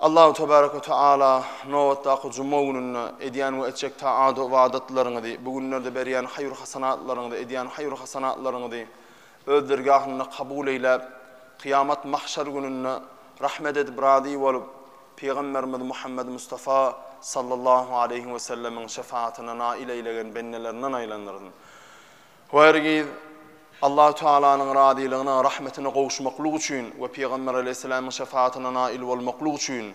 Allahu tebarek we teala nobatdaky juma gününde edýän we etjek taat-u ybadatlaryňyzy, bu günlerde berýän haýyr-hasanatlaryňyzy, edýän haýyr-hasanatlaryňyzy Öz dergahynda kabul eýläp, kyýamat mahşer gününde rahmet edip razy bolup, Pygamberimiz Muhammed Mustafa sallallahu aleýhi we sellemiň şefaatine nail eýlegen bendelerinden aýlandyrsyn. Bu hergiz Allahu Tagalanyň razylygyna, rahmetine gowuşmaklyk üçin we Pygamber aleýhissalamyň şefaatine nail bolmaklyk üçin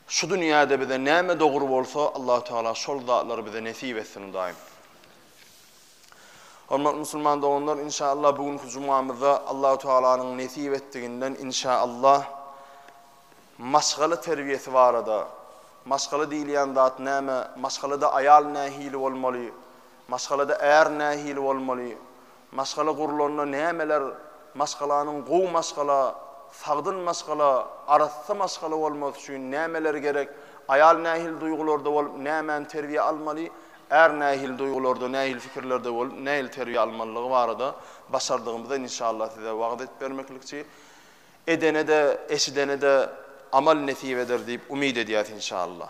şu dünýäde bize näme dogry bolsa, Allahu Tagala şol zatlary bize nesip etsin, Hudaýym. Hormatly musulman doganlar, inşaallah bu günki jumamyzda Allahu Tagalanyň nesip etdiginden inşaallah maşgala terbiýesi barada, maşgala diýilýän zat näme, maşgalada aýal nähili bolmaly, Maşgalada är nähili bolmaly? Maşgala gurlanda nämeler Maşgalanyň gowy maşgala, sagdyn maşgala, arassa maşgala bolmasy üçin nämeler gerek? Aýal nähili duýgularda bolup, nämäni terbiýä almaly? Är nähili duýgularda, nähili pikirlerde bolup, nähili terbiýe almalydygy barada başardygymyza inşallah size wagyz edip bermeklikçi. Edene-de, eşidene-de amal nesip eder diýip umyt edýäs inşallah.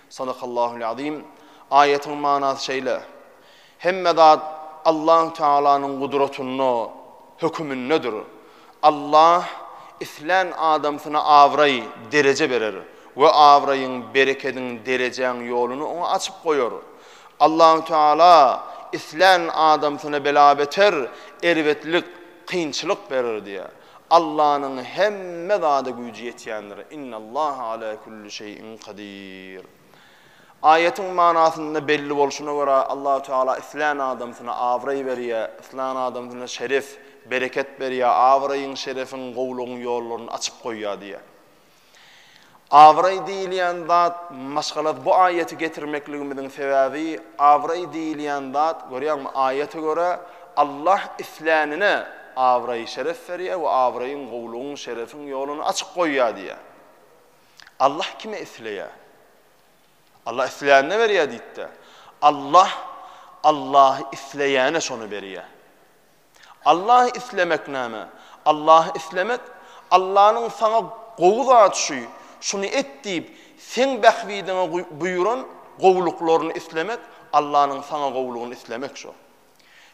Sadakallahul azim. Aýatyň manasy şeýle, Hemme zat Allahu Tealanyň gudratynda, hökümindedir. Allah islän adamsyna abraý, dereje berer we abraýyň, berekediň, derejäň ýoluny oňa açyp goýar. Allahu Teala islän adamsyna bela-beter, erbetlik, kynçylyk berer diýýär. Allanyň hemme zada güýji ýetýändir. Innallaha ala kulli şeýin kadir. Aýatyň manasynda belli bolşuna görä, Allahu Teala islän adamsyna abraý berýär, islän adamsyna şeref, bereket berýär, abraýyň, şerefiň, gowulygyň ýollaryny açyp goýýar diýýär. Abraý diýilýän zat, maşgalat bu aýaty getirmekligimiziň sebäbi, abraý diýilýän zat, görýäňmi, aýata görä, Allah islänine abraý-şeref berýär we abraýyň, gowulygyň, şerefiň ýoluny açyk goýýar diýýär. Allah kime isleýär? Allah islänine berýär diýdi-de. Allah Allahy isleýäne şony berýär. Allahy islemek näme? Allahy islemek, Allanyň saňa gowy zat şu, şuny et diýip, seň bähbidiňe buýran gowulyklaryny islemek, Allanyň saňa gowulygyny islemek şu.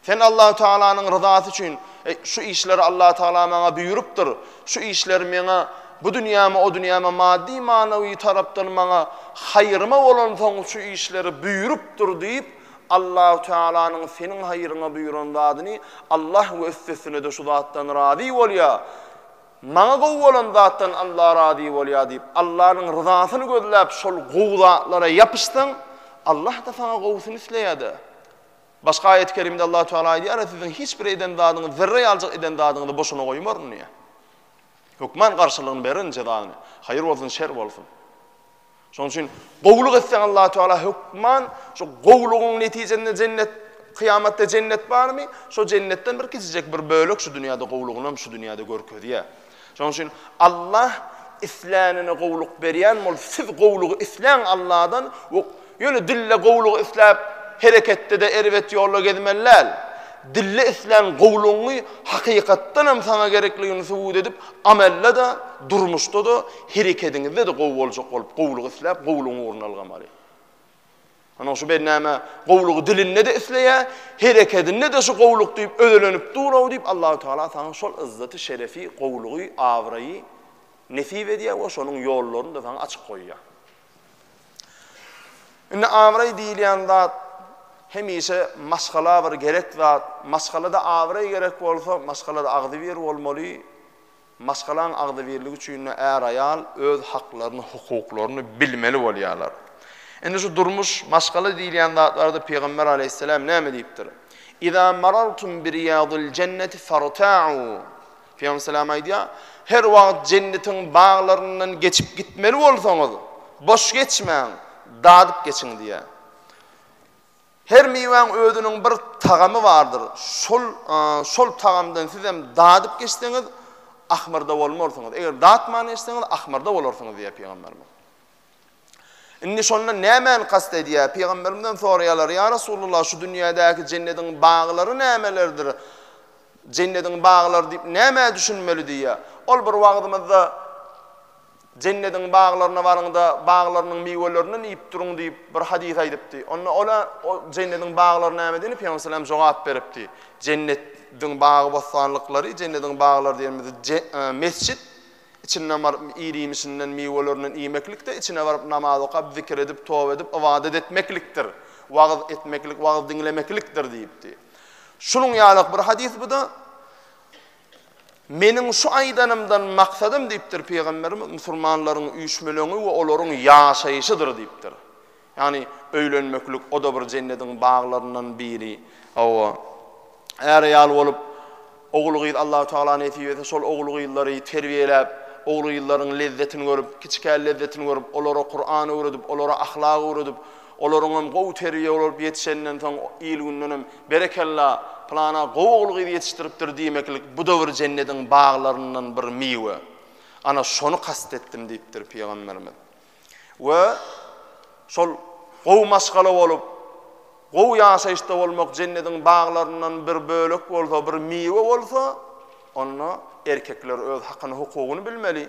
Sen Allahu Tealanyň ryzasy üçin, Eý, şu işleri Allahu Teala maňa buýrupdyr, şu işleri meňe bu dünýäme, o dünýäme maddy-manawy tarapdan maňa haýryma bolansoň şu işleri buýrupdyr diýip, Allahu Tealanyň seniň haýryňa buýran zadyny Allah we üstesine-de şu zatdan razy bolýar, Maňa gowy bolan zatdan Allah razy bolýar diýip, Allanyň ryzasyny gözläp şol gowy zatlara ýapyşsaň, Allah-da saňa gowusyny isleýär-de. Başga aýat-y kerimde Allahu Teala aýdýar, Siziň hiç bir eden zadyňyz, zerre ýaljyk eden zadyňyzy boşuna goýmaryn diýýär. Hökman garşylygyny bererin, jezasyny. Haýyr bolsun, şer bolsun. Şonuň üçin gowulyk etseň Allahu Teala hökman şu gowulygyň netijesinde jennet kyýamatda jennet barmy? Şo jennetden bir kiçijek bir bölek şu dünýäde gowulygyny hem şu dünýäde görkezýär. Şonuň üçin Allah islänine gowulyk berýän bol, siz gowulygy isläň Allahdan we ýöne dille gowulygy isläp hereketde de erbet ýolda gezmeli däl. Dille islän gowulygyňy hakykatdan hem saňa gerekligini subut edip amelde de durmuşda da Herekediňizde-de gowy boljak bolup, gowulygy isläp, gowulygyň ugruna ylgamaly. Ynha, şu bennäme gowulygy dilinde-de isleýär, herekedinde-de şu gowulyk diýip özelenip dur-ow diýip, Allahu tagala saňa şol ýzzaty, şerefi, gowulygy, abraýy nesip edýär we şonuň ýollaryny-da saňa açyp goýýar. Indi abraý diýilýän zat hemişe maşgala bir gerek zat. Maşgalada abraý gerek bolsa, maşgalada agzybir bolmaly. Maşgalaň agzybirligi üçin-de är-aýal öz haklaryny, hukuklaryny bilmeli bolýarlar. Indi şu durmuş, maşgala diýilýän zatlarda Pygamber aleýhisselam näme diýipdir? Iza marartum bi riýadil jenneti farta'u. Pygamber salam aýdýar, Her wagt jennetiň baglaryndan geçip gitmeli bolsaňyz, boş geçmäň, dadyp geçiň diýýär. Her miwäň özüniň bir tagamy bardyr. Şol şol tagamdan sizem dadyp geçseňiz, ahmyrda bolmarsyňyz. Eger datman geçseňiz, ahmyrda bolarsyňyz diýýär Pygamberimiz. Indi şondan nämäni kast edýär? Pygamberimizden soraýarlar, ýa Resulullah, şu dünýädäki jennediň baglary nämelerdir? Jennediň baglary diýip nämä düşünmeli diýýär. Ol bir wagzymyzda Jennediň baglaryna baryň-da, baglarynyň miwelerinden iýip duruň diýip, bir hadys aýdypdy. Onda ola, O jennediň baglary näme diýende, Pygamber salam jogap beripdi, Jennet diň bagy-bossanlyklary, jennediň baglary diýenimiz je, e, mesjit, içinden baryp ir-iýmişinden, miwelerinden iýmeklik-de, içine baryp namaz okap, zikir edip, toba edip, ybadat etmeklikdir. Wagyz etmeklik, wagyz diňlemeklikdir diýipdi. Şunuň ýaly-ak bir hadys bu-da. Meniň şu aýdanymdan maksadym diýipdir Pygamberimiz, musulmanlaryň üýşmeleňi we olaryň ýaşaýşydyr diýipdir. Ýagny öýlenmeklik o-da bir jennediň baglaryndan biri. Hawa, är-aýal bolup, ogul-gyz Allahu tagala nesip etse şol ogul-gyzlary terbiýeläp, ogul-gyzlaryň lezzetini görüp, kiçikä lezzetini görüp, olara Kuran öwredip, olara ahlak öwredip, Olaryňam gowy terbiýe bolup ýetişenden soň il-gündenem Berekella, pylana gowy ogul-gyz ýetişdiripdir diýmeklik bu-da bir jennediň baglaryndan bir miwe. Ana, şony kast etdim diýipdir pygamberimiz. We şol gowy maşgala bolup, gowy ýaşaýyşda bolmak jennediň baglaryndan bir bölek bolsa, bir miwe bolsa, onda erkekler öz hakyny-hukugyny bilmeli.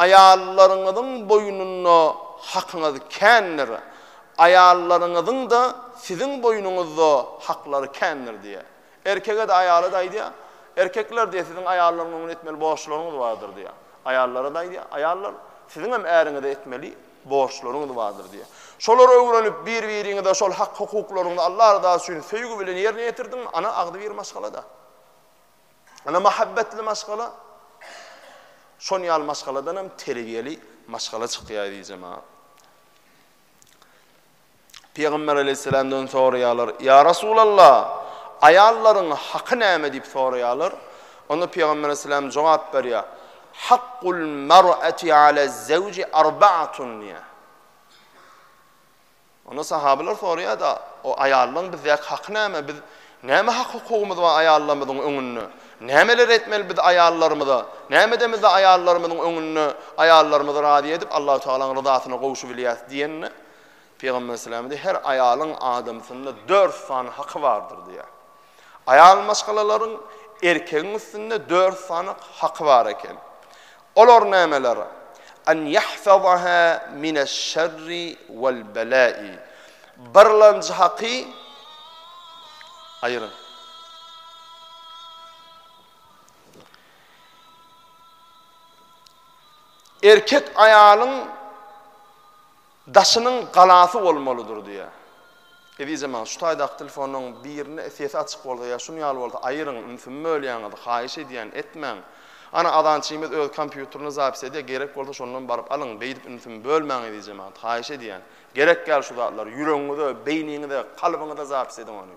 Aýallaryňyzyň boýnunda hakyňyz kändir, aýallaryňyzyň-da siziň boýnuňyzda haklary kändir diýýär. Erkege-de, aýala-da aýdýar, Erkekler diýýär, siziň aýallaryň öňünde etmeli borçlaryňyz bardyr diýýär. Aýallara-da aýdýar, Aýallar, siziň hem äriňize etmeli borçlaryňyz bardyr diýýär. Şolary öwrenip, bir-biriňize şol hak-hukuklaryňyzy Allah rydasy üçin söýgi bilen ýerine ýetirdiňmi, ana agzybir maşgala-da. Ene mähebbetli maşgala şon ýaly maşgaladan hem terbiýeli maşgala çykýar diýjema. Pygamber aleyhisselamdan soraýarlar, Ya Rasulallah, aýallaryň haky näme diýip soraýarlar. Onda Pygamber aleyhisselam jogap berýär, Hakkul mar'ati ala zevci arba'atun diýär. Onda sahabylar soraýar-da, O aýallaryň bizdäki haky näme? Biz näme hak-hukugymyz bar aýallarymyzyň öňünde? Nämeler etmeli biz aýallarymyza? Näme edemizde aýallarymyzyň öňünde aýallarymyzy razy edip, Allahu tagalaň ryzasyna gowuşybilýäris? diýende, Pygamber sallallahu aleýhi we sellem, Her aýalyň adamsynda dört sany haky bardyr diýýär. Aýal maşgalalaryň erkegiň üstünde dört sany haky bar eken. Olar nämeler? An ýahfazaha mineş-şerri wal-belâi. Birlenji haky Aýryň. Erkek aýalyň Daşynyň galasy bolmalydyr diýýä. Ezizem aga şu taýdaky telefonlaryň birine sesi açyk bolsa ýa şun ýaly bolsa aýyryň ünsümi bölýäňiz haýyş edýän etmäň. Ana azançymyz öz kompýuterine zapis edýä gerek bolsa şondan baryp alyň beýdip ünsümi bölmäň ezizem aga haýyş edýän. Gerek ýaly şu zatlar ýüregiňize, beýniňize, kalbyňyza zapis ediň ony.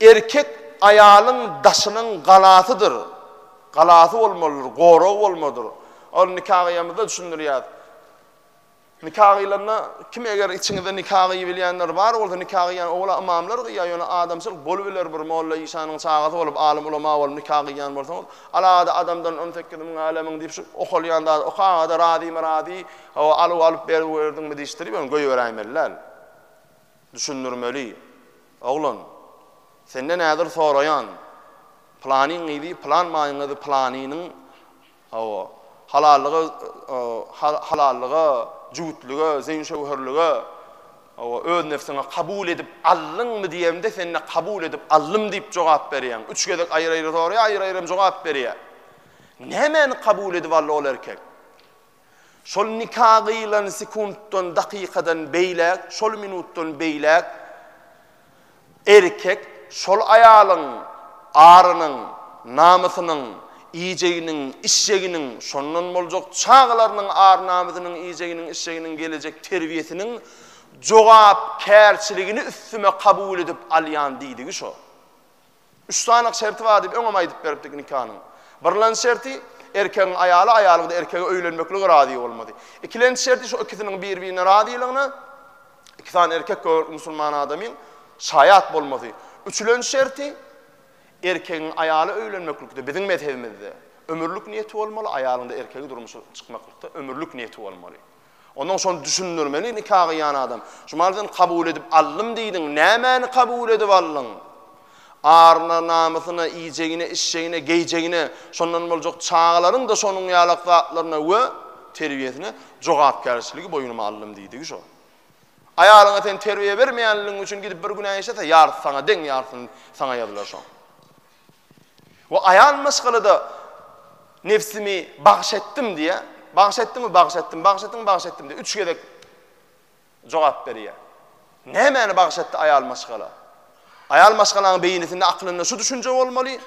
Erkek aýalyň daşynyň galasydyr, galasy bolmalydyr, goragy bolmalydyr. Ol nika gyýamyzda düşündirýär. Nika gyýlanda kim eger içiňizde nika gyýybilýänler bar bolsa nika gyýýan owala ymamlar gyýýar, ýöne adamçylyk bolubiler bir molla işanyň çagasy bolup, alym ulama bolup nika gyýýan bolsaňyz, alada adamdan on sekiz müň älemiň diýip şu okalýan zady okagaza razymy razy, hawa alyw alyp berip berdiňmi diýişdirip ýöne goýberäýmeli däl. Düşündirmeli. Oglan, senden häzir soraýan, Pylanyň gyzy pylan maýyň gyzy pylanynyň, hawa, halallyga, halallyga, jübütlige, zeýin-şöwherlige, hawa, öz nebsiňe kabul edip aldyňmy diýemde sende kabul edip aldym diýip jogap berýäň. Üç gezek aýry-aýry soraýar, aýry-aýrym jogap berýär. Nämäni kabul edip aldy ol erkek? Şol nika gyýylan sekuntdan, dakykadan beýläk, şol minutdan beýläk erkek şol aýalyň arynyň, namysynyň iýjeginiň, içjeginiň, şondan boljak çagalarynyň ar-namysynyň, iýjeginiň, içjeginiň, gelejek terbiýesiniň jogapkärçiligini üstüme kabul edip alýan diýdigi şo. Üç sanyk şerti bar diýip öňem aýdyp beripdik nikanyň. Birlenji şerti, erkegiň aýaly, aýalyň-da erkege öýlenmeklige razy bolmaly. Ikilenji şerti şo ikisiniň bir-birine razylygyna iki sany erkek gögerlik musulman adamyň şaýat bolmasy. Üçülenji şerti, erkegiň aýaly öýlenmeklikde biziň mezhebimizde ömürlik niýeti bolmaly, aýalyň-da erkege durmuşa çykmaklykda ömürlik niýeti bolmaly. Ondan şony düşündirmeli nika gyýan adam. Şumal sen kabul edip aldym diýdiň, nämäni kabul edip aldyň? Aryna, namysyna, iýjegine, içjegine, geýjegine, şondan boljak çagalaryň-da şonuň ýalak zatlaryna we terbiýesine jogapkärçiligi boýnuma aldym diýdigi şo. Aýalyňa sen terbiýe bermeýänligiň üçin gidip bir günä işlese, ýarysy saňa deň, ýarysyny saňa ýazylar şoň. We aýal maşgalada nebsimi bagyş etdim diýýär. Bagyş etdiňmi? Bagyş etdim. Bagyş etdiňmi? Bagyş etdim diýip, üç gezek jogap berýär. Nämäni bagyş etdi aýal maşgala? Aýal maşgalaň beýnisinde, aklynda şu düşünje bolmaly,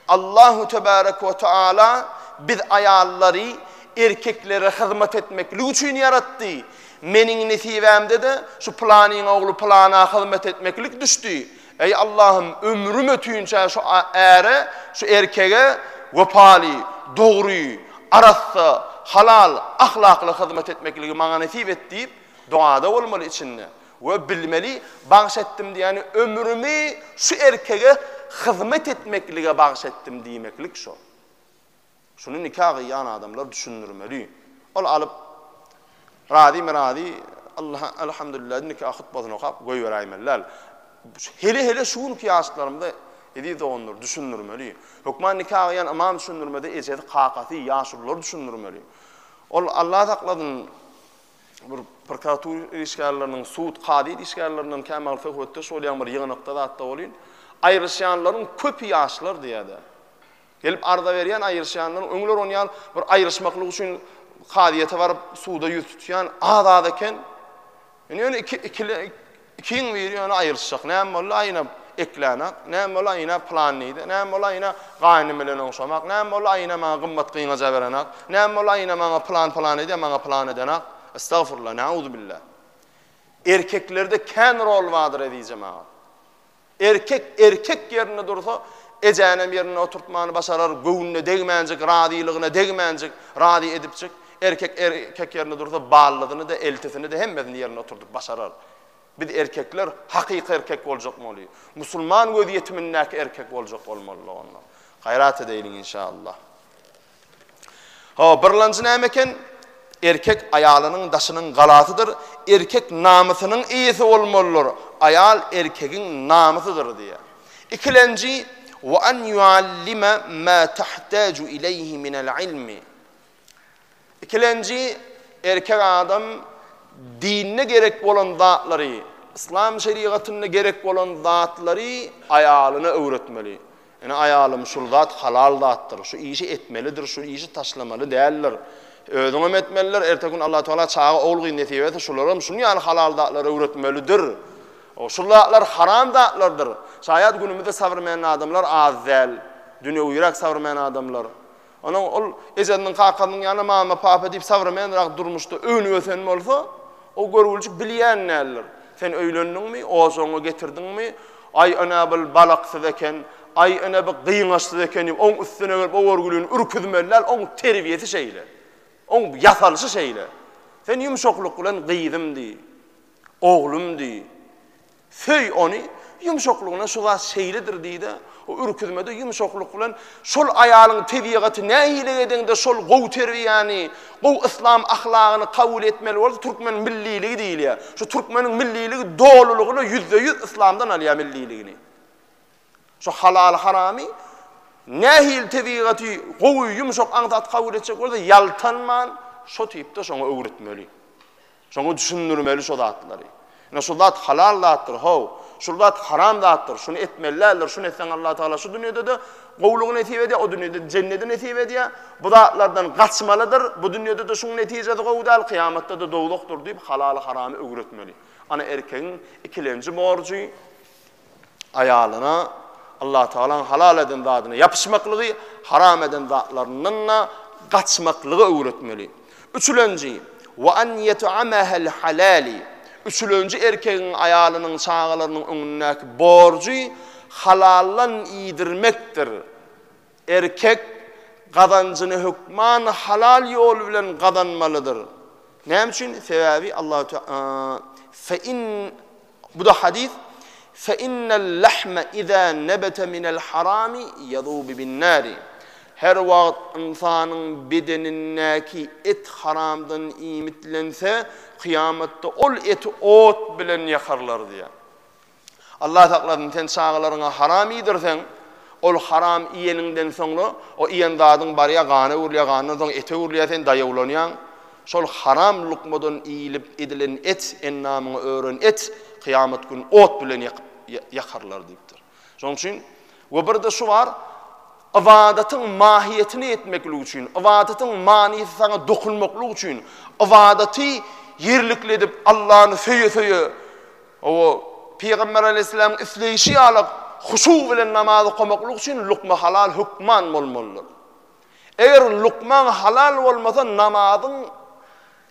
Allahu tebarek we taala biz aýallary erkeklere hyzmat etmeklik üçin ýaratdy. Meniň nesibämde-de şu planyň ogly plana hyzmat etmeklik düşdi. Eý Allahym ömrüm ötünçä şu äre, şu erkege wepaly, dogry, arassa, halal, ahlakly hyzmat etmekligi maňa nesip et diýip dogada bolmaly içinde we bilmeli bagş etdim diýýäni ömrümi şu erkege hyzmat etmeklige bagş etdim diýmeklik şo. Şuny nika gyýan adamlar düşündirmeli. Ol alyp, razymy razy, Allaha Elhamdülillah diýip nika hutbasyny okap goýberäýmeli däl. Hele-hele şu günki ýaşlarymyza eziz doganlar düşündirmeli. Hökman nika gyýan ymam düşündirmede ejesi, kakasy, ýaşulylar düşündirmeli. Ol Allah saklasyn bir prokuratura işgärleriniň, sud, kazyýet işgärlerinden kämagl söhbetdeş bolýan bir ýygnakda zatda bolyn. Aýryşýanlaryň köpi ýaşlar diýýärdi. Gelip arza berýän, aýryşýanlar, öňler on ýal bir aýryşmaklyk üçin kazyýete baryp, suda ýüz tutýan az-az eken. Indi ýöne iki, ikili, ikiň biri ýöne aýryşjak. Näme boldy? Aýna ekläne, näme boldy? Aýna plan diýdi. Näme boldy? Aýna gaýnym bilen oňşamak. Näme boldy? Aýna maňa gymmat gyňaja berene. Näme boldy? Aýna maňa plan plan edýär, maňa plan edene. Estagfurullah, nauzubilla. Erkeklerde kän rol bardyr, ezizim aga. Erkek erkek ýerinde dursa, ejänem ýerinde oturtmany başarar, göwnüne degmänjik, razylygyna degmänjik, razy edipjik, erkek erkek ýerinde dursa, ballysyny-da, eltisini-de, hemmesini ýerinde oturdyp başarar. Biz erkekler hakyky erkek boljakmaly. Musulman gözýetimindäki erkek boljak bolmalydyk onda. Gaýrat edeýliň inşallah. Hawa, birlanjy näme eken? Erkek aýalynyň daşynyň galasydyr, erkek namysynyň eýesi bolmalydyr, aýal erkegiň namysydyr diýýär. Ikilenji, Wa an yuallime ma tahtaju ileýhi minel ilmi. Ikilenji, erkek adam dinde gerek bolan zatlary, yslam şerigatynda gerek bolan zatlary aýalyna öwretmeli. Ine, aýalym, şul zat halal zatdyr, şu işi etmelidir, şu işi taşlamaly däldir. Özüňem etmelidir, erteki gün Allahu tagala çaga, ogul-gyz nesip etse, şularam şunuň ýaly halal zatlary öwretmelidir. Şul zatlar haram zatlardyr. Şaýat günümizde sabrmäň adamlar az däl. Dünýewiräk sabrmäň adamlar. Onuň ol ejesiniň, kakasynyň ýaly mama, papa diýip sowremenrak durmuşda önüp-ösen bolsa, o görgüljik bilýän däldir. Sen öýlendiňmi, ojagyňy getirdiňmi, aý ene bil balaksyz eken, aý ene bi gyňaçsyz eken diýip oň üstüne gelip o görgülini ürküzmeli däl, oň terbiýesi şeýle. Oň ýasalyşy şeýle. Sen ýumşaklyk bilen gyzym diý, oglum diý. Söý ony, ýumşaklygyna şu zat şeýledir diý-de, o ürküzmede ýumşaklyk bilen, Şol aýalyň tebigaty nähili edeňde şol gowy terbiýäni, gowy yslam ahlagyny kabul etmeli bolsa türkmen milliligi diýilýär. Şu türkmeniň milliligi dolulygyna ýüzde-ýüz yslamdan alýar milliligini. Şu halaly-haramy nähili tebigaty gowy, ýumşak aňsat kabul etjek bolsa ýaltanman şo tipde şoňa öwretmeli. Şoňa düşündirmeli şo zatlary. Ine şu zat halal zatdyr, how, şul zat haram zatdyr, şuny etmeli däldir, şuny etseň Allah Tagala şu dünýede-de gowulygy nesip edýär, o dünýede jennedi nesip edýär, bu zatlardan gaçmalydyr, bu dünýede-de şuň netijesi gowy däl, kyýamatda-da dowzahdyr diýip halaly haramy öwretmeli. Ana erkegiň ikilenji borjy. aýalyna Allatagalaň halal eden zadyna ýapyşmaklygy, haram eden zatlaryndan-da gaçmaklygy öwretmeli. Üçülenji, Wa an ýet'amahal halali, Üçülenji erkegiň aýalynyň, çagalarynyň öňündäki borjy halaldan iýdirmekdir. Erkek gazanjyny hökman halal ýol bilen gazanmalydyr. Näme üçin? Sebäbi Allahu Teala fe in bu-da hadys fe innel lahme iza nebete minel harami yazubu bin nari. Her wagt ynsanyň bedenindäki et haramdan iýmitlense, kyýamatda ol eti ot bilen ýakarlar diýýär. Allah saklasyn, sen çagalaryňa haram iýdirseň, ol haram iýeniňden soňra, o iýen zadyň barýar, gana öwrülýär, gandan soň ete öwrülýär, sen daýawlanýaň. Şol haram lukmadan iýlip edilen et, ennamyňa ören et, kyýamat gün ot bilen ýakyp, ýakarlar diýipdir. Şonuň üçin We birde şu bar, ybadatyň mahiýetini ýetmeklik üçin, ybadatyň manysy saňa dokunmaklyk üçin, ybadaty ýerlikli edip, Allany söýe-söýe, o Pygamber Aleýhissalamyň isleýşi ýaly huşu bilen namaz okamaklyk üçin lukma halal hökman bolmalydyr. Eger lukmaň halal bolmasa, namazyň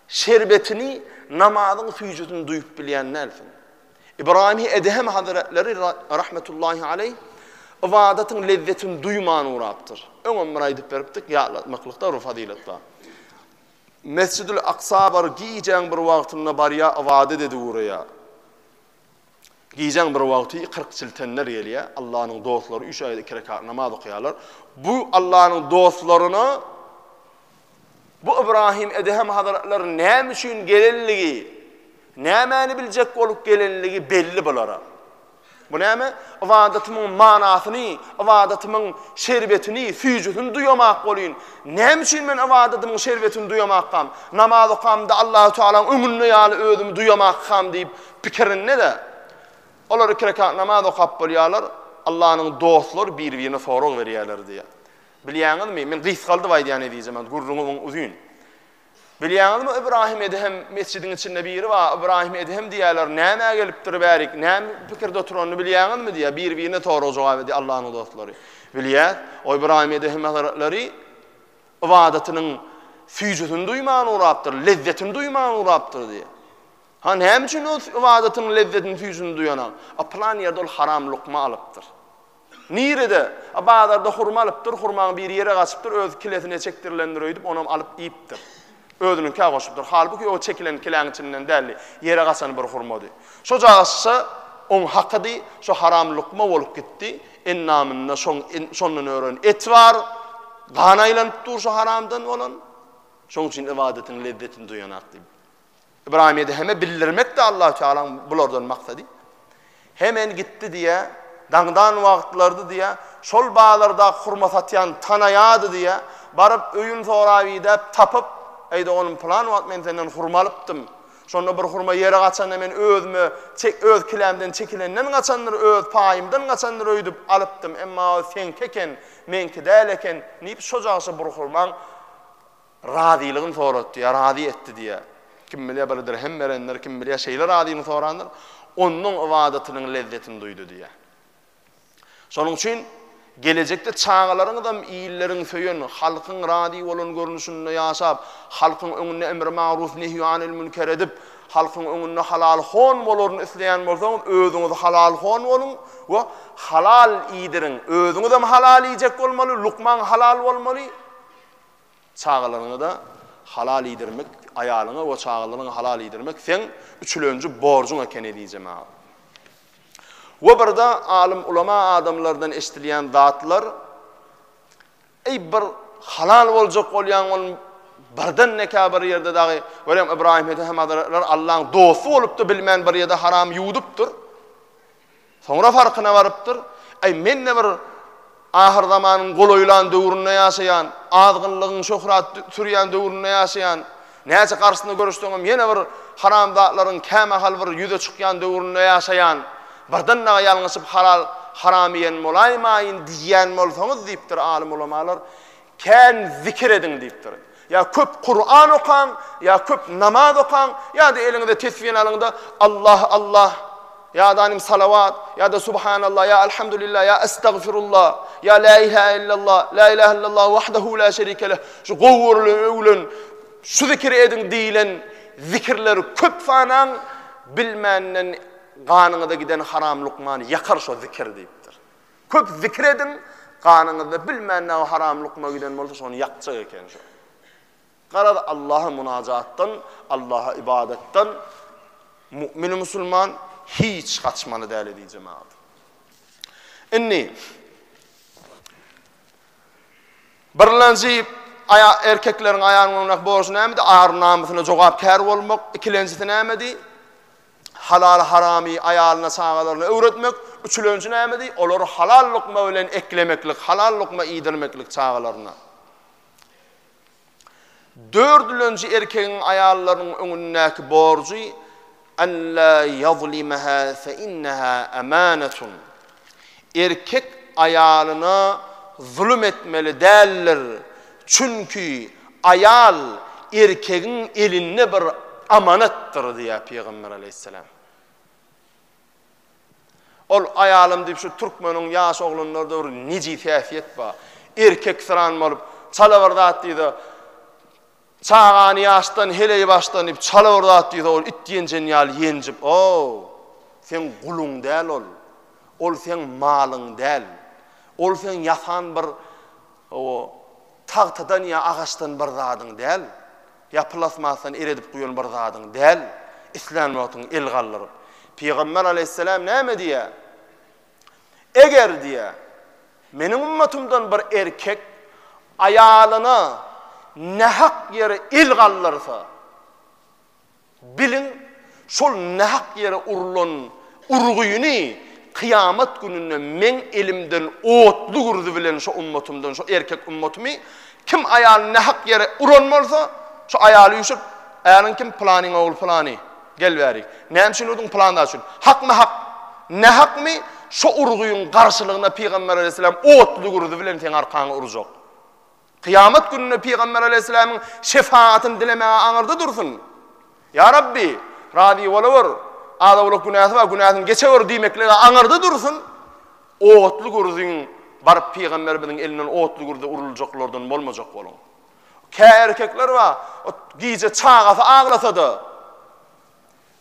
şerbetini, namazyň süýjüsini duýup bilýän dälsiň. Ybraýymy Edhem hazretleri rahmetullahi aleýh ybadatyň lezzetini duýman ugrapdyr. Öňem bir aýdyp beripdik, ýatlatmaklykda bir fazylat bar. Mesjidül Aksa bar, gijäň bir wagtynda barýa ybadat edip ugraýa. Gijäň bir wagty 40 çiltenler gelýä, Allanyň dostlary üç aýda iki rekat namaz okaýarlar. Bu Allanyň dostlaryna Bu Ybraýym Edhem hazretleriniň näme üçin gelenligi, nämäni biljek bolup gelenligi belli bulara. Bu näme? Ybadatymyň manasyny, ybadatymyň şerbetini, süýjüsini duýamak bolýyn. Näme üçin men ybadatymyň şerbetini duýamakkam? Namaz okamda Allahu Tagalaň öňünde ýaly özümi duýamakkam diýip pikirinde-de, olar iki rekat namaz okap bolýarlar, Allanyň dostlary bir-birine sorag berýärler diýýär. Bilýäňizmi, men gysgaldyp aýdýan edijemem, gürrüňi muň uzyn. Bilýäňizmi, Ybraýym Edhem metjidiň içinde biri bar, Ybraýym Edhem diýýärler, nämä gelipdir bärik, näme pikirde oturanyny bilýäňizmi diýýär, bir-birine sorag jogap edýär Allanyň dostlary. Bilýäs, o Ybraýym Edhem hazratlary ybadatynyň süýjüsini duýman ugrapdyr, lezzetini duýman ugrapdyr diýýär. Ha näme üçin ol ybadatynyň lezzetini süýjüsini duýanok? A pylan ýerde ol haram lukma alypdyr. Nirede? A bazarda hurma alypdyr, hurmaň biri ýere gaçypdyr, öz kilesine çekdirilendir öýdüp, onam alyp iýipdir. Özüniňkä goşupdyr. Halbuki o çekilen kiläň içinden däldi, ýere gaçan bir hurmady. Şojagazça oň hakydy, şo haram lukma bolup gitdi. Endamynda şoň şondan ören et bar, gan aýlanyp dur şo haramdan bolan. Şoň üçin ybadatyň lezzetini duýanak diýip. Ybraýym Edeheme bildirmekdi Allatagalaň bulardan maksady. Hemen gitdi diýä, daňdan wagtlardy diýä, şol bazardaky hurma satýany tanaýady diýä, baryp öýün sorap idäp tapyp, Eý doganym pylan wagt men senden hurma alypdym, şonda bir hurma ýere gaçanda men özüme çek öz kilämden çekilenden gaçandyr, öz paýymdan gaçandyr öýdüp alypdym, emma ol seňki eken, meňki däl eken, diýip şojagça bir hurmaň Razylygyny soratdy ýa razy etdi diýýär. Kim bilýär, bir dirhem berendir, kim bilýär, şeýle razylygyny sorandyr. Onnoň ybadatynyň lezzetini duýdy diýýär. Şonuň üçin gelejekde çagalaryňyzam illeriň söýen, halkyň razy bolan görnüşinde ýaşap, halkyň öňünde emri magruw nehýu anil münker edip, halkyň öňünde halal hon bolaryny isleýän bolsaňyz, özüňiz halal hon boluň we halal iýdiriň. Özüňizem halal iýjek bolmaly, lukmaň halal bolmaly. Çagalaryňy-da halal iýdirmek, aýalyňy we çagalaryňy halal iýdirmek seň üçlenji borjuň eken ezizem aga. We birde alym ulama adamlardan eşdilýän zatlar, Eý bir halal boljak bolýaň ol birden nekä bir ýerde dagy görýäň Ybraýym Ethem Hazretler Allaň dosty bolup-da bilmän bir ýerde haram ýuwudypdyr. Soňra farkyna barypdyr, Äý, men-de bir ahyrzamanyň golaýlan döwründe ýaşaýan, azgynlygyň şöhrat sürýän döwründe ýaşaýan, näçe garşysyna göreşseňem ýene bir haramzatlaryň kämahal bir ýüze çykýan döwründe ýaşaýan, birden dagy ýalňyşyp halal, haram iýen bolaýmaýyn diýýän bolsaňyz diýipdir alym-ulamalar. Kän zikir ediň diýipdir. Ýa köp Kuran okaň, ýa köp namaz okaň, ýa-da eliňize tesbini alyň-da, Allah, Allah, ýa-da anym salawat, ýa-da subhanallah, ýa alhamdulillah, ýa estagfirullah, ýa la ilahe illallah, la ilahe illallah wahdahu la şerike leh, şu gowy görülen, öwülen, şu zikiri ediň diýilen zikirleri köp sanaň, bilmänden ganyňyza giden haram lukmany ýakar şo zikir diýipdir. Köp zikir ediň, ganyňyzda bilmän näme haram lukma giden bolsa şony ýakjak eken şu. Garaz Allaha munajatdan, Allaha ybadatdan mu'min musulman hiç gaçmaly däl edi jemagat. Indi Birlenji aya erkekleriň aýanyň öňündäki borjy nämedi? Ar namysyna jogapkär bolmak. Ikilenjisi nämedi? Halal-haramy aýalyna-çagalaryna öwretmek, üçülenji nämedi? Olary halal lukma bilen eklemeklik, halal lukma iýdirmeklik çagalaryna. Dördülenji erkegiň aýallarynyň öňündäki borjy, Alla ýazlimaha fe inneha amanatun. Erkek aýalyna zulum etmeli däldir, çünki aýal erkegiň elinde bir amanatdyr diýýär Pygamber aleýhissalam. Ol aýalym diýip şu türkmeniň ýaş oglanlarda bir nejis häsiýet bar. Erkek syran bolup, çala bir zat diýdi. Çagany ýaşdan heleý başlanyp çala bir zat diýse ol it ýenjen ýaly ýenjip ow! Seň guluň däl ol. Ol seň malyň däl. Ol seň ýasan bir ow tagtadan ýa agaçdan bir zadyň däl. Ýa plasmasdan eredip guýan bir zadyň däl. Islän wagtyň el galdyryp. Pygamber aleýhissalam näme diýýär? Eger, diýýä, Meniň ümmetymdan bir erkek aýalyna nähak ýere el galdyrsa, biliň, şol nähak ýere urlan urgyny kyýamat gününde Meň elimden otly gürzy bilen şo ümmetymden, şo erkek ümmetymy, kim aýalyny nähak ýere uran bolsa, şo aýaly üýşüp, Äriň kim? Pylanyň ogly pylany. Gel bäri. Näme üçin urdyň? Pylan zat üçin. Hakmy hak? Nähakmy? Şo urgyň garşylygyna Pygamber aleýhissalam otly gürzi bilen seň arkaňy urjak. Kyýamat gününe Pygamber aleýhissalamyň şefagatyny dilemäge aňyrda dursun. Ýa Rabbi, razy bolawer. Az-owlak günäsi bar, günäsini geçewer diýmeklige aňyrda dursun. Otly gürziň baryp pygamberimiziň elinden otly gürze uruljaklardan bolmajak boluň. Kä erkekler bar, gije çagasy aglasa-da,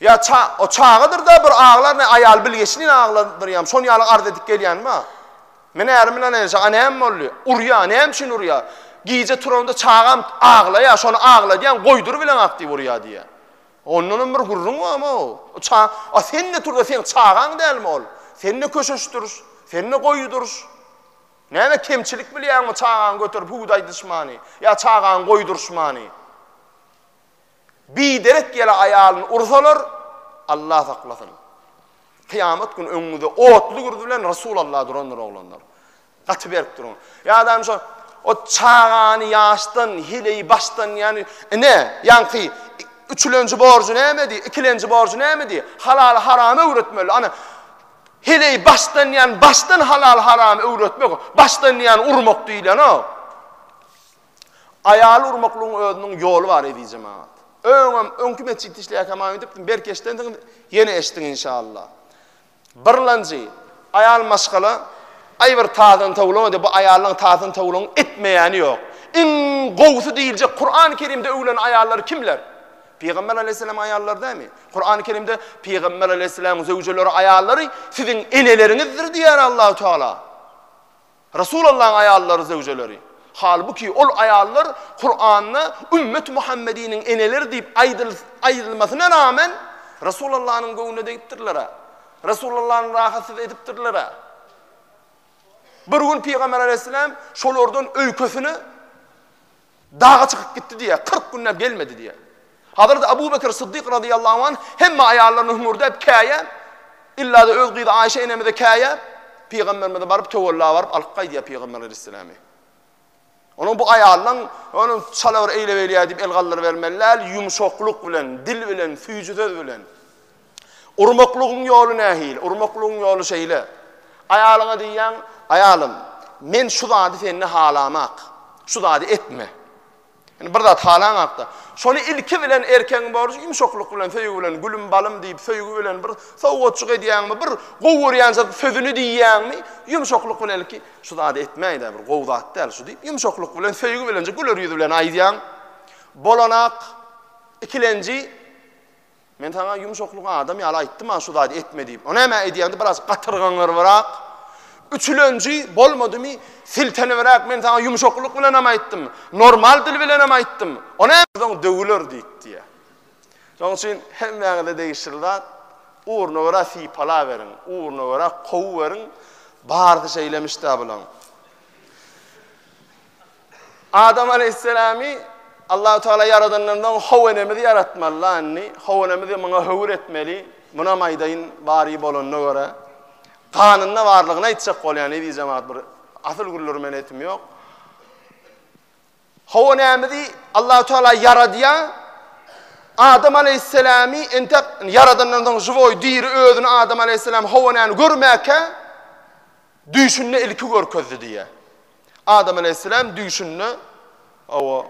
ýa ça, o çagadyr-da bir aglar, ne aýaly bilgeşlin agladyr ýam, şon ýaly arz edip gelýän bar. Men ärim bilen enişe, a näme boldy? Urýar, näme üçin urýar? Gije turanda çagam aglaýar, şony agladýan, goýdur bileňak diýip urýar diýýär. Ondanam bir gürrüň barmy o? O ça, a sen-de tur-da, seň çagaň dälmi ol? Sen-de köşeşdir, sen-de goýudyr. Näme kemçilik bilýäňmi çagaňy göterip hudaýdyşmany ýa çagaňy goýduryşmany? Biderek ýele aýalyny ursalar, Allah saklasyn. Kyýamat güni öňüňizde otly gürz bilen Resul Allah durandyr oglanlar. Gaty berip duruň. Ýadam şo o çagany ýaşdan, hileyi başdan ýany ine ýanky üçülenji borjy nämedi, ikilenji borjy nämedi? Halaly haramy öwretmeli. Ana Heleý başdan ýan başdan halal haramy öwretmek başdan ýan urmak diýilenok. Aýaly urmaklygyň özüniň ýoly bar ezijem agat. Öňem öňki metjitde işleýärkäm aýdypdym belki eşidensiňiz ýene eşdiň inşallah. Birlanjy aýal maşgala aý bir tazyny towlama diýip bu aýallaryň tazyny towlaň etmeýäni ýok. Iň gowusy diýiljek Kuran Kerimde öwlen aýallar kimler? Pygamber aleýhissalam aýallar dämi? Kurany Kerimde Pygamber aleýhissalam zöwjeleri aýallary siziň eneleriňizdir diýýär Allahu Teala. Resul Allahyň aýallary zöwjeleri. Halbuki ol aýallar Kuranda ümmet Muhammediniň eneleri diýip aýdyl aýdylmasyna rağmen Resul Allahyň göwnüne degipdirler. Resul Allahyň rahatsyz edipdirler. Bir gün Pygamber aleýhissalam şolardan öýkesini Daga çykyp gitdi diýýär, kyrk günläp gelmedi diýýär. Hazreti Abu Bekr Syddyk razyýallahu anh hemme aýallaryna hüňürdäp käýäp, illa-da öz gyzy Aýşe enemize käýäp, pygamberimize baryp töwella baryp alyp gaýdýar pygamber aleýhissalamy. Onuň bu aýalynyň onuň çala bir eýle-beýle diýip el galdyrybermeli däl, ýumşaklyk bilen, dil bilen, süýji söz bilen. Urmaklygyň ýoly nähili? Urmaklygyň ýoly şeýle. Aýalyňa diýýäň, Aýalym, men şu zady sende halamak. Şu zady etme. Indi bir zat halaňakda, şony ilki bilen erkegiň borjy ýumşaklyk bilen, söýgi bilen, gülüm, balym diýip, söýgi bilen bir sowgatjyk edýäňmi, bir gowy görýän sözüni diýýäňmi, ýumşaklyk bilen ilki, Şu zady etmäý-dä, bir gowy zat däl şu diýip, ýumşaklyk bilen, söýgi bilenje, güler ýüz bilen aýdýaň. Bolanak, ikilenji, Men saňa ýumşaklyk adam ýaly aýtdym-a şu zady etme diýip. O näme edýäňdi biraz gatyrgaňyrbyrak. Üçülenji bolmadymy siltenibrak men saňa ýumşaklyk bilenem aýtdym. Normal dil bilenem aýtdym. O näme soň döwüler diýip diýýä. Şonuň üçin hemmäňize degişli zat ugruna görä sypalaweriň, ugruna görä kowuweriň. Barysy şeýlemiş-dä bulaň. Adam aleýhissalamy Allahu tagala ýaradandan soň how enemizi ýaratmaly landy, how enemizi muňa höwür etmeli, munam aýdaýyn bary bolanyna görä, ganynda barlygyny aýtjak bolýan eziz jemagat bir asyl gürleri men etim ýok. How enemizi Allahu tagala ýaradýa, Adam aleýhissalamy entek ýaradandan soň žiwoý diri özüni Adam aleýhissalam how enemi görmäkä, Düýşünde ilki görkezdi diýýär. Adam aleýhisselam düýşünde, hawa,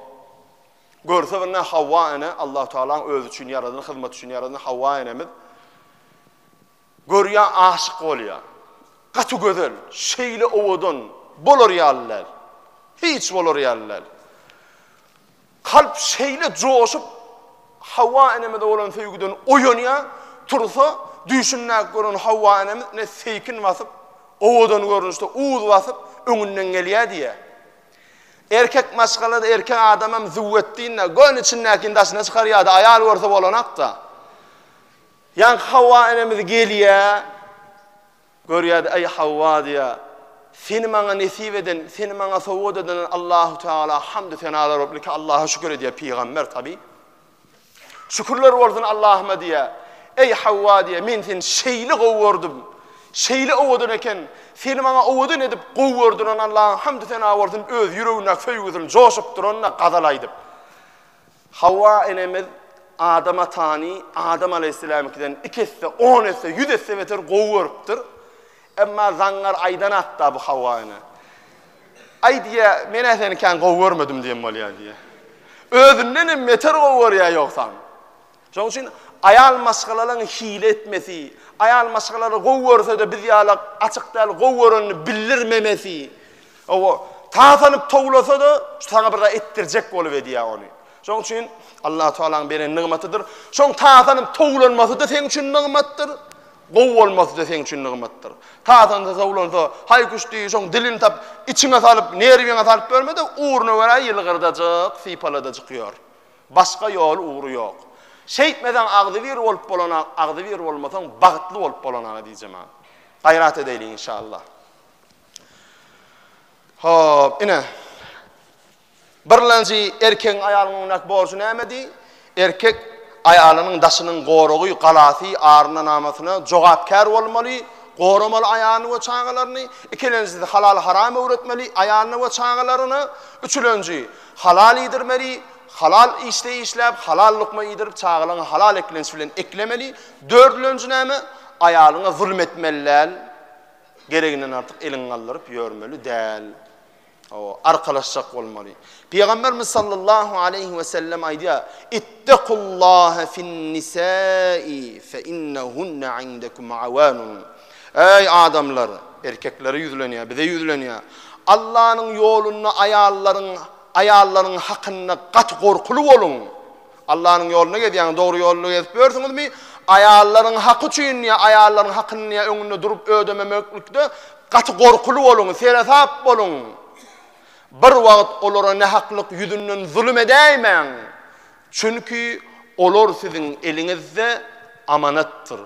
görse birine Hawa ene, Allahu Tagalaň özi üçin ýaradan, hyzmat üçin ýaradan Hawa enemiz görýär, aşyk bolýar. Gaty gözel, şeýle owadan, bolar ýaly däl. Hiç bolar ýaly däl. Kalp şeýle joşup, Hawa enemize bolan söýgüden oýanýar, tursa, düýşündäki gören Hawa enemiz ne seýkin basyp, owadan görnüşde uz basyp, öňünden gelýär diýýär. Erkek maşgala-da, erkek adamam züwwetdin-de, göni içindäkini daşyna çykarýar-da, aýal görse bolanak-da. Ýaňky Hawa enemiz gelýär, Görýärdi, Eý, Hawa, diýýär, seni maňa nesip eden, seni maňa sowgat eden Allahu Tagala hamdy senalar bolsun, ilki Allaha şükür edýär pygamber tabi. Şükürler bolsun Allahuma diýýär. Eý, Hawa, diýýär, men seni şeýle gowy gördüm, şeýle owadan eken, seni maňa owadan edip gowy gördüren Allaha hamdy sena bolsun, öz ýüregindäki söýgüsini joşup duranyna gazal aýdyp. Hawa enemiz Adam atany Adam alaýhyssalamyňkydan iki esse, on esse, ýüz esse beter gowy görüpdir. Emma zaňňar aýdan hakda bu Hawa ene. Aý diýýär, men-ä seni kän gowy görmedim diýen bolýar diýýär. Özünden hem beter gowy görýär ýogsam. Şonuň üçin aýal maşgalalaryň hile etmesi, aýal maşgalalary gowy görse-de biz ýaly açyk däl gowy görenini bildirmemesi, Hawa, tasanyp towlasa-da, şu saňa bir zat etdirjek bolup edýär ony. Şonuň üçin Allahu Taalanyň beren nygmatydyr. Şoň tasanyp towlanmasy-da seň üçin nygmatdyr, gowy bolmasy-da seň üçin nygmatdyr. Tasansa towlansa, haý-küş diý, şoň dilini tap, içiňe salyp, nerwiňe salyp ýörme-de, ugruna görä ýylgyrdajyk, sypaladajyk ýör. Başga ýoly, ugry ýok. Şeýtmeseň agzybir bolup bolanak, agzybir bolmasaň bagtly bolup bolanaga diýjemä. Gaýrat edäýliň inşallah. Hop, ine. Birlenji erkegiň aýalyň öňündäki borjy nämedi? Erkek aýalynyň daşynyň goragy, galasy, arynanamasyna jogapkär bolmaly, goramaly aýalyny we çagalaryny. Ikilenjisi halal-haram öwretmeli aýalyna we çagalaryna. Üçülenji, halal iýdirmeli, halal işde işläp, halal lukma iýdirip, çagalaryňy halal eklenç bilen eklemeli. Dördülenji näme? Aýalyňa zulum etmeli däl. Gereginden artyk eliňi galdyryp ýörmeli däl. Hawa, arkalaşjak bolmaly. Pygamberimiz sallallahu aleýhi we sellem aýdýar, Ittaqullaha fin-nisai fe innahunna indakum awanun. Eý adamlar, erkeklere ýüzlenýär, bize ýüzlenýär. Allanyň ýolunda aýallaryň, aýallaryň hakynda gaty gorkuly boluň. Allanyň ýolunda gezýäňiz, dogry ýolda gezip ýörsüňizmi? Aýallaryň haky üçin ýa aýallaryň hakyny ýa öňünde durup ödememeklikde gaty gorkuly boluň, seresap boluň. Bir wagt olara nähaklyk ýüzünden zulum edäýmäň. Çünki olar siziň eliňizde amanatdyr.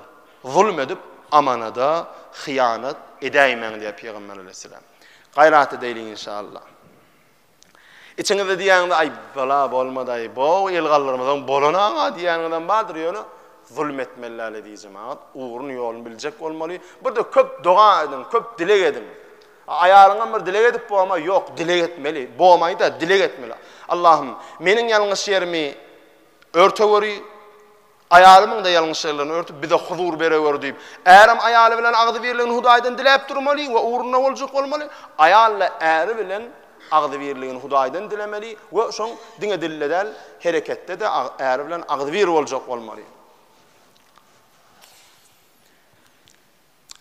Zulum edip amanada hyýanat edäýmäň diýýär Pygamber aleýhissalam. Gaýrat edäýliň inşallah. Içiňizde diýýäňiz, Aý, bala bolmadaý, bo-ow elgallarymyzam bolan-a diýýäniňizem bardyr, ýöne zulum etmeli däl eziz jemagat, ugruny, ýoluny biljek bolmaly. Bir-de köp doga ediň, köp dileg ediň. Aýalyňam bir dileg edip boma, ýok, dileg etmeli, bomaýda, dileg etmeli. Allahym, meniň ýalňyş ýerimi örtegöri, Aýalymyň-da ýalňyşlyklaryny örtüp, bize huzur berewer diýip, ärem aýaly bilen agzybirligini Hudaýdan diläp durmaly we ugruna boljak bolmaly, aýal-da äri bilen agzybirligini Hudaýdan dilemeli we şoň diňe dilde däl, hereketde-de äri bilen agzybir boljak bolmaly.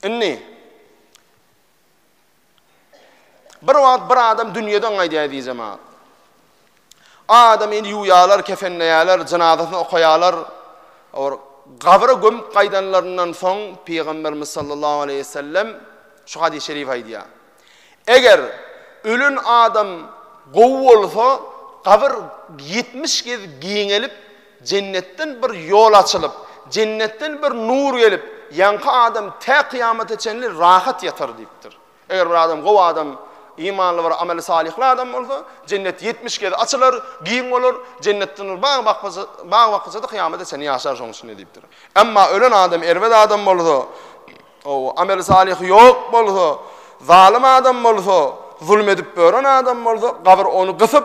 Indi. Bir wagt bir adam dünýeden gaýdýar eziz jemagat. Adamy indi ýuwýarlar, kefenleýärler, jynazasyny okaýarlar. Ol gabra gömüp gaýdanlaryndan soň Pygamberimiz sallallahu aleyhi ve sellem şu hadis-i şerif aýdýar. Eger ölen adam gowy bolsa, gabyr 70 gez giňelip, Jennetden bir ýol açylyp, jennetden bir nur gelip, ýaňky adam tä kyýamata çenli rahat ýatar diýipdir. Eger bir adam gowy adam, imanly bir ameli salyhly adam bolsa, jennet ýetmiş gezek açylar, giň bolar, jennetden bir bag bakja, bag bakja-da kyýamata çenli ýaşar şoň içinde diýipdir. Emma ölen adam erbet adam bolsa, ow, ameli salyhy ýok bolsa, zalym adam bolsa, zulum edip ören adam bolsa, gabyr ony gysyp,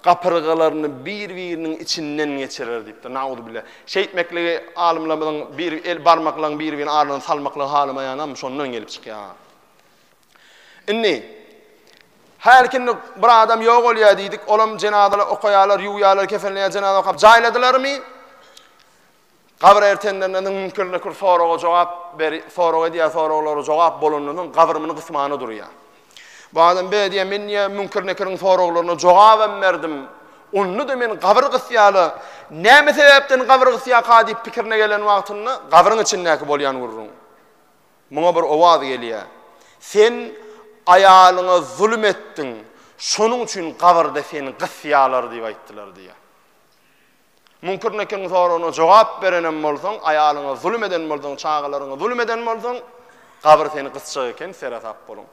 gapyrgalaryny bir-biriniň içinden geçirer diýipdir. Nauzubile. Şeýtmekligi alymlarymyzyň bir el barmaklaryň bir-biriniň arasyna salmaklygy halamaýanam şondan gelip çykýar. Indi Her kimde bir adam ýok bolýar diýdik, olam jenazalary okaýarlar, ýuwýarlar, kefenleýär, jenaza okap jaýladylarmy? Gabyr ertenlerine niň müňkirde kür soraga jogap ber sorag edýär soraglara jogap bolanda niň gabyr mini gysmana durýar. Bu adam be diýýär men diýýär müňkir nekiriň soraglaryna jogabam berdim. Onda da men gabyr gysýala näme sebäpden gabyr gysýaka diýip pikirine gelen wagtynda gabyryň içindäki bolýan gürrüň. Muňa bir owaz gelýär. Sen aýalyňa zulum etdiň. Şonuň üçin gabyrda seni gysýalar diýip aýtdylar diýýär. Münkür Nekiriň soragyna jogap berenem bolsaň, aýalyňa zulum eden bolsaň, çagalaryňa zulum eden bolsaň, gabyr seni gysjak eken, seresap boluň.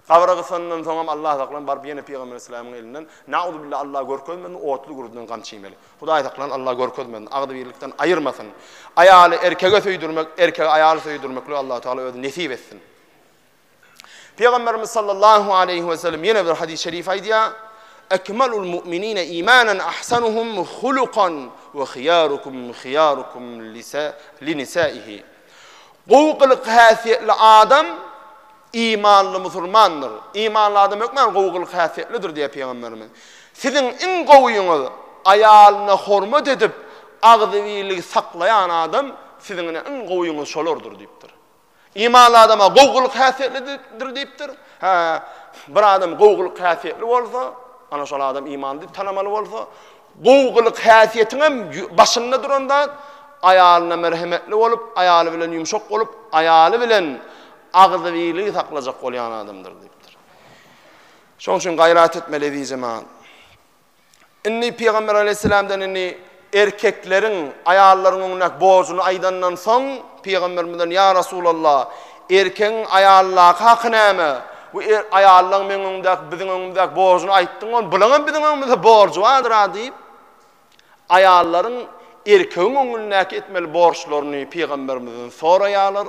Gabyra gysandan soňam Allah saklan baryp ýene Pygamber Islamyň elinden, nauzubilla Allah görkezmesin, otly gürrüden gamçy iýmeli. Hudaý saklan Allah görkezmesin, agzybirlikden aýyrmasyn. Aýaly erkege söýdürmek, erkegi aýaly söýdürmeklik Allah Taala özi nesip etsin. Pygamberimiz sallallahu aleýhi we sellem ýene bir hadys-y şerif aýdýar, Ekmalul mu'minine imanan ahsanuhum hulukan we hiyarukum hiyarukum li nisaihi. Gowy gylyk häsiýetli adam imanly musulmandyr. Imanly adam hökman gowy gylyk häsiýetlidir diýýär pygamberimiz. Siziň iň gowyňyz aýalyna hormat edip, agzybirligi saklaýan adam siziň ine iň gowyňyz şolardyr diýipdir. Imanly adama gowgylyk häsiýetlidir diýipdir. Hä, bir adam gowgylyk häsiýetli bolsa, ana şol adam imanly diýip tanamaly bolsa, gowgylyk häsiýetiň hem başynda duran zat aýalyna merhemetli bolup, aýaly bilen ýumşak bolup, aýaly bilen agzybirligi saklajak bolýan adamdyr diýipdir. Şonuň üçin gaýrat etmeli ezizim. Indi Pygamber aleýhissalamdan indi erkekleriň aýallaryň öňündäki borjuny aýdandan soň, Pygamberimizden, Ýa Resulallah, erkegiň aýaldaky haky näme? Bu er, aýallaň meň öňümdäki, biziň öňümdäki borjuny aýtdyň ony, bulaň hem biziň öňümizde borjy bardyr-a diýip, aýallaryň erkegiň öňündäki etmeli borçlaryny Pygamberimizden soraýarlar.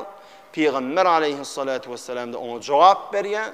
Pygamber aleýhissalatu wessalam-da oňa jogap berýär.